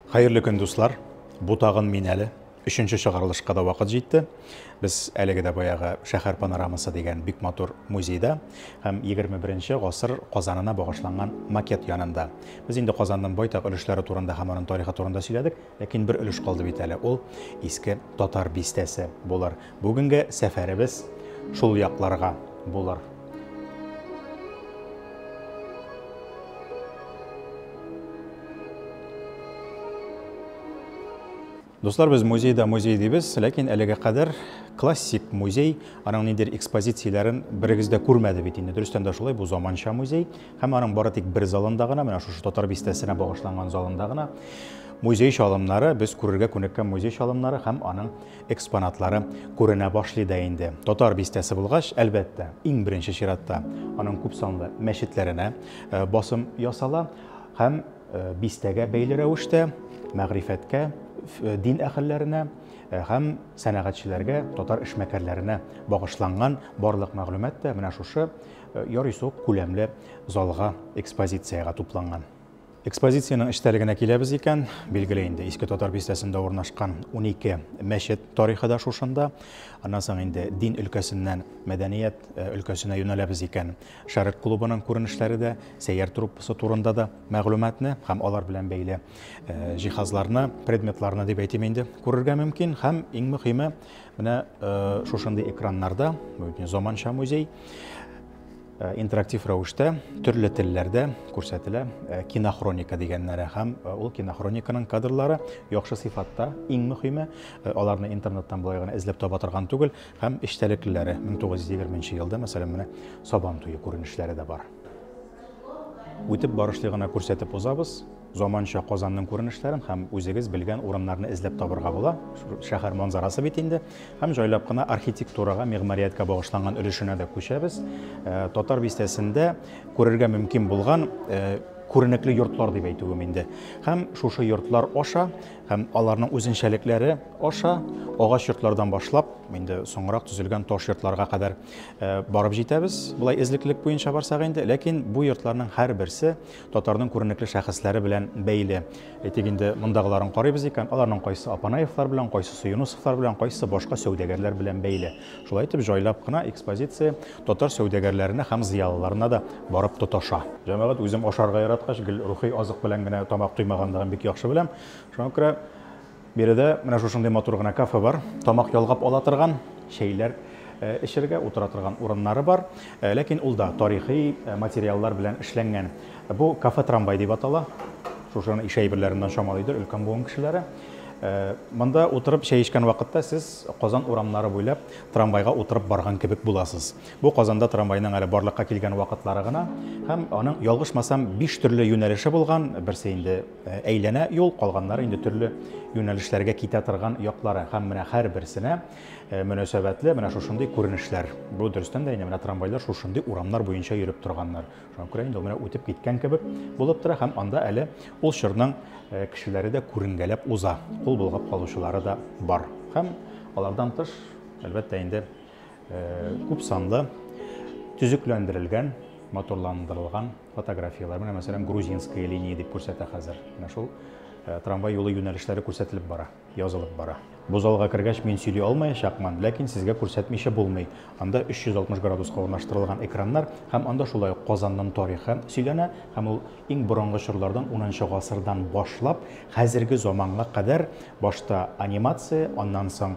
Хәерле көн дуслар! Бу тагын мин әле. Өченче чыгарылышка да вакыт җитте. Без әлеге дә баягы Шәһәр панорамасы дигән бик матур музейда һәм 21 гасыр Казанына багышланган макет янында. Без инде Казанның байтак өлешләре турында һәм аның тарихы турында сөйләдек, ләкин бер өлеш калды бит әле, ул Иске Татар бистәсе булыр. Бүгенге сәфәребез шул якларга булыр. Дуслар, без музейда музей дибез, ләкин әлегә кадәр классик музей, аның ниндидер экспозицияләрен берегез дә күрмәде бит инде. Дөрестән дә шулай, бу заманча музей һәм аның бары тик бер залында гына, менә шушы Татар бистәсенә багышланган залында гына музей чалымнары, без күрергә күнеккән музей чалымнары һәм аның экспонатлары күренә башлый да инде. Татар бистәсе булгач, әлбәттә, иң беренче чиратта аның күпсанлы мәчетләренә э, басым ясала һәм э, бистәгә бәйле рәвештә мәгърифәткә, э, дин әһелләренә һәм сәнәгатьчеләргә, татар эшмәкәрләренә багышланган барлык мәгълүмат та менә шушы ярый сук күләмле залга экспозициягә тупланган. Экспозициянең эчтәлегенә киләбез икән, билгеле инде, Иске Татар бистәсендә урнашкан унике мәчет тарихы да шушында. Аннан соң инде дин өлкәсеннән мәдәният э, өлкәсенә юнәләбез икән, Шәрык клубының күренешләре дә, сәйяр труппасы турында да мәгълүматны һәм алар белән бәйле э, җиһазларны, предметларны дип әйтим инде, күрергә мөмкин һәм иң мөһиме, менә э, шушындый экраннарда, заманча музей, Э, интерактив рәвештә төрле телләрдә күрсәтелә э, кинохроника дигәннәре һәм э, ул кинохрониканың кадрлары яхшы сыйфатта иң мөһиме аларны интернеттан болай гына эзләп таба торган түгел һәм эчтәлеклеләре 1920 елда мәсәлән менә сабан туе күренешләре дә бар үтеп барышлый гына күрсәтеп узабыз Заманча Казанның күренешләрен һәм үзегез белгән урыннарны эзләп табырга була. Шәһәр манзарасы бит инде. Һәм җайлап кына архитектурага, мигъмарияткә багышланган өлешенә дә күчәбез. Э, Татар бистәсендә күрергә мөмкин булган э, күренекле йортлар дип әйтүем инде. Һәм шушы йортлар аша һәм аларның үзенчәлекләре аша агач йортлардан башлап, инде соңрак төзелгән таш йортларга кадәр э, барып җитәбез. Булай эзлеклек буенча барсак инде, ләкин бу йортларның һәрберсе Татарның күренекле шәхесләре белән бәйле. Әйтик инде, мондагыларын карыйбыз икән, аларның кайсы Апанаевлар белән, кайсы Суюнусовлар белән, кайсы башка сәүдәгәрләр белән бәйле. Шулай итеп, җайлап кына экспозиция татар сәүдәгәрләренә һәм зыялыларына да барып тоташа. Җәмәгать үзем ашарга яраткач, гел рухи азык белән генә тамак туймаганлыгын бик яхшы беләм. Шуңа күрә Биредә менә шушындый матур гына кафе бар. Тамак ялгап ала торган, чәйләр эчергә, утыра торган урыннары бар. Ләкин ул да тарихи материаллар белән эшләнгән. Бу кафе-трамвай дип атала. Шушыны ишә әйберләреннән чамалыйдыр өлкән буын кешеләре. Монда утырып чәй эчкән вакытта сез Казан урамнары буйлап трамвайга утырып барган кебек буласыз. Бу Казанда трамвайның әле барлыкка килгән вакытлары гына һәм аның, ялгышмасам, биш төрле юнәлеше булган, берсе инде Әйләнә юл, калганнары инде төрле юнәлешләргә китә торган яклары. Һәм менә һәрберсенә мөнәсәбәтле менә шушындый күренешләр. Бу дөрестән дә инде менә трамвайлар шушындый урамнар буенча йөреп торганнар. Шуңа күрә инде ул менә үтеп киткән кебек булып тора һәм анда әле ул чорның кешеләре дә күренгәләп уза, кул болгап калучылары да бар. Һәм алардан тыш, әлбәттә инде, Күп санлы төзекләндерелгән, моторландырылган фотографияләр. Менә мәсәлән, грузинская линия дип күрсәтә хәзер. Менә шул э, трамвай юлы юнәлешләре күрсәтелеп бара, язылып бара. Бу залга кергәч мин сөйли алмаячакмын, ләкин сезгә күрсәтмичә булмый. Анда 360 градуска урнаштырылган экраннар һәм анда шулай ук Казанның тарихы сөйләнә һәм ул иң борынгы чорлардан 10 гасырдан башлап хәзерге заманга кадәр башта анимация, аннан соң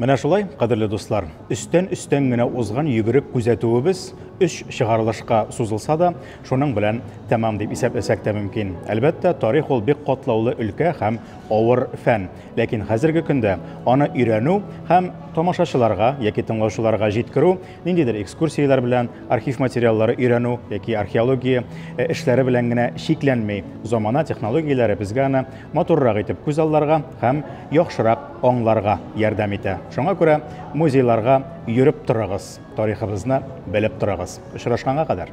Менә шулай, кадерле дуслар, өстән-өстән генә узган йөгерек күзәтүебез өч чыгарылышка сузылса да, шуның белән тәмам дип исәпләсәк тә мөмкин. Әлбәттә, тарих ул бик катлаулы өлкә һәм авыр фән. Ләкин хәзерге көндә аны өйрәнү һәм тамашачыларга яки тыңлаучыларга җиткерү, ниндидер экскурсияләр белән, архив материаллары өйрәнү яки археология э, эшләре белән генә чикләнми. Замана технологияләре безгә аны матуррак итеп күз алларга һәм яхшырак аңларга ярдәм итә. Шуңа күрә музейларга йөреп торыгыз, тарихыбызны белеп торыгыз. Очрашканга кадәр!